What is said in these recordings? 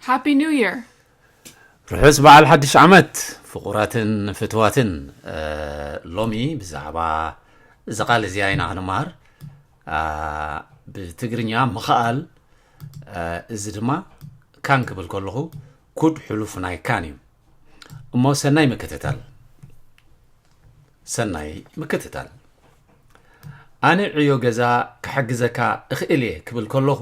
ሃፒ ኒው የር። ርሑስ በዓል ሓድሽ ዓመት ፍቑራትን ፍትዋትን ሎሚ ብዛዕባ እዚ ቃል እዚኣ ኢና ክንመሃር ብትግርኛ ምኽኣል እዚ ድማ ካን ክብል ከለኹ ኩድ ሕሉፍ ናይ ካን እዩ እሞ ሰናይ ምክትታል ሰናይ ምክትታል ኣነ ዕዮ ገዛ ክሕግዘካ እኽእል እየ ክብል ከለኹ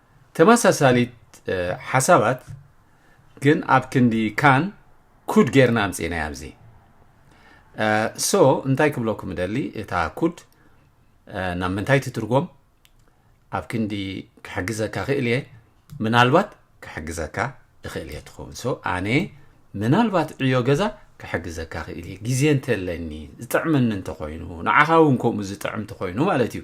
ተመሳሳሊት ሓሳባት ግን ኣብ ክንዲ ካን ኩድ ጌርና ኣምፂእናያ ኣብዚ ሶ እንታይ ክብለኩም ደሊ እታ ኩድ ናብ ምንታይ ትትርጎም ኣብ ክንዲ ክሕግዘካ ክእል እየ ምናልባት ክሕግዘካ እኽእል እየ ትኸውን ሶ ኣነ ምናልባት ዕዮ ገዛ ክሕግዘካ ክእል እየ ግዜ እንተለኒ ዝጥዕመኒ እንተኮይኑ ንዓኻ እውን ከምኡ ዝጥዕም እንተኮይኑ ማለት እዩ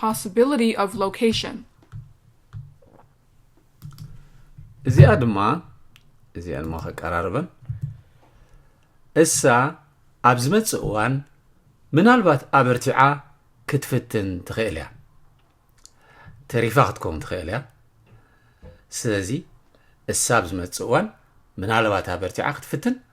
possibility of location እዚኣ ድማ እዚኣ ድማ ከቀራርበን እሳ ኣብ ዝመጽእ እዋን ምናልባት ኣበርቲዓ ክትፍትን ትኽእል እያ ተሪፋ ክትከውን ትኽእል እያ ስለዚ እሳ ኣብ ዝመጽእ እዋን ምናልባት ኣበርቲዓ ክትፍትን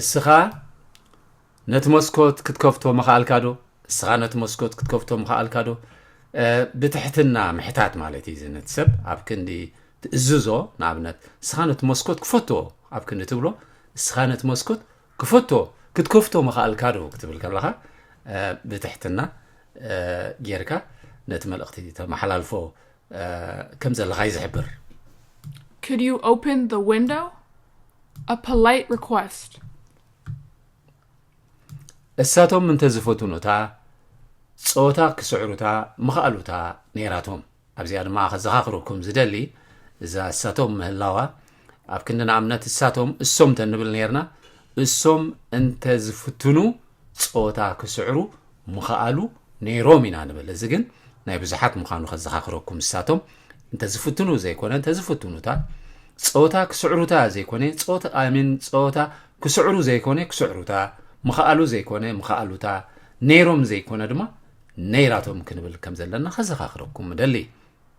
እስኻ ነቲ መስኮት ክትከፍቶ ምኽኣልካ ዶ እስኻ ነቲ መስኮት ክትከፍቶ ምኽኣልካ ዶ ብትሕትና ምሕታት ማለት እዩ ዝነት ሰብ ኣብ ክንዲ ትእዝዞ ንኣብነት እስኻ ነቲ መስኮት ክፈቶ ኣብ ክንዲ ትብሎ እስኻ ነቲ መስኮት ክፈቶ ክትከፍቶ ምኽኣልካ ዶ ክትብል ከለኻ ብትሕትና ጌርካ ነቲ መልእኽቲ ተመሓላልፎ ከም ዘለኻ እዩ ዝሕብር። Could you open the window? A polite request. እሳቶም እንተዝፈትኑታ ጾታ ክስዕሩታ ምኽኣሉታ ነይራቶም ኣብዚኣ ድማ ከዘኻኽረኩም ዝደሊ እዛ እሳቶም ምህላዋ ኣብ ክንዲ ንኣብነት እሳቶም እሶም ተንብል ነርና እሶም እንተ ዝፍትኑ ፆታ ክስዕሩ ምኸኣሉ ነይሮም ኢና ንብል እዚ ግን ናይ ብዙሓት ምዃኑ ከዘኻኽረኩም እሳቶም እንተ ዝፍትኑ ዘይኮነ እንተ ዝፍትኑታ ፆታ ክስዕሩታ ዘይኮነ ፆታ ኣሚን ፆታ ክስዕሩ ዘይኮነ ክስዕሩታ ምኸኣሉ ዘይኮነ ምኸኣሉታ ነይሮም ዘይኮነ ድማ ነይራቶም ክንብል ከም ዘለና ከዘኻኽረኩም እደሊ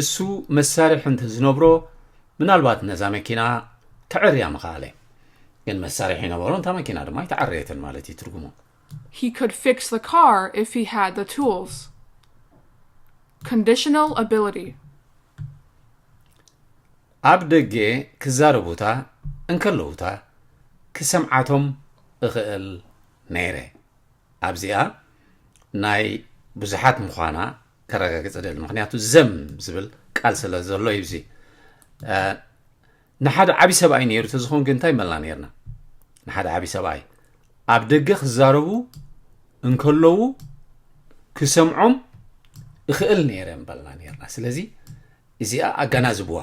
እሱ መሳርሒ እንተዝነብሮ ምናልባት ነዛ መኪና ክዕርያ ምኸኣለ ግን መሳርሒ ነበሮ እንታ መኪና ድማ ኣይተዓረየትን ማለት እዩ ትርጉሙ He could fix the car if he had the tools. Conditional ability. ኣብ ደገ ክዛረቡታ እንከለዉታ ክሰምዓቶም እኽእል ነይረ ኣብዚኣ ናይ ብዙሓት ምዃና ከረጋግፅ እደሊ ምክንያቱ ዘም ዝብል ቃል ስለ ዘሎ እዩ እዚ ንሓደ ዓብ ሰብኣይ ነይሩ ተዝኸውን ግን እንታይ መልና ነርና ንሓደ ዓብ ሰብኣይ ኣብ ደገ ክዛረቡ እንከለዉ ክሰምዖም እኽእል ነይረ በልና ነርና ስለዚ እዚኣ ኣገናዝብዋ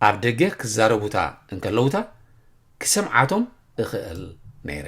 ኣብ ደገ ክዛረቡታ እንከለዉታ ክሰምዓቶም እኽእል ነይረ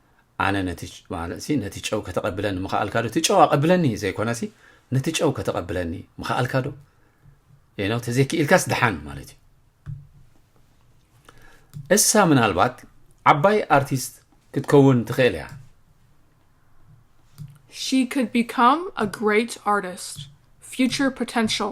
ኣነ ነቲ ማለትሲ ነቲ ጨው ከተቐብለኒ ምኸኣልካ ዶ እቲ ጨው ኣቐብለኒ ዘይኮነሲ ነቲ ጨው ከተቐብለኒ ምኸኣልካ ዶ ነው ተዘይክኢልካስ ድሓን ማለት እዩ እሳ ምናልባት ዓባይ ኣርቲስት ክትከውን ትኽእል እያ She could become a great artist. Future potential.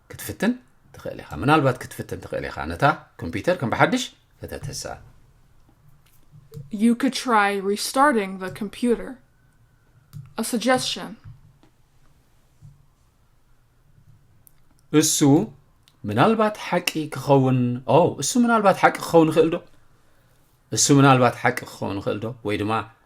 ክትፍትን ትኽእል ኢኻ ምናልባት ክትፍትን ትኽእል ኢኻ ነታ ኮምፒውተር ከም ብሓድሽ ፈተተሳ You could try restarting the computer. A suggestion. እሱ ምናልባት ሓቂ ክኸውን ኦ እሱ ምናልባት ሓቂ ክኸውን ይኽእል ዶ እሱ ምናልባት ሓቂ ክኸውን ይኽእል ዶ ወይ ድማ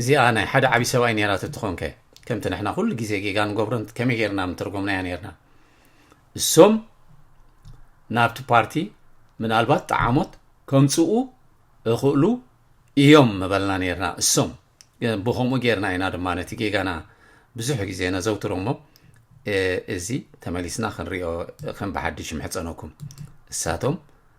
እዚኣ ናይ ሓደ ዓቢ ሰብኣይ ነይራ ተትኾን ከ ከምቲ ንሕና ኩሉ ግዜ ጌጋ ንገብሮን ከመይ ጌርና ምተርጎምናያ ነርና እሶም ናብቲ ፓርቲ ምናልባት ጣዓሞት ከምጽኡ እኽእሉ እዮም ምበልና ነርና እሶም ብከምኡ ጌርና ኢና ድማ ነቲ ጌጋና ብዙሕ ግዜ ነዘውትሮ እሞ እዚ ተመሊስና ክንሪኦ ከም ብሓድሽ ምሕፀነኩም እሳቶም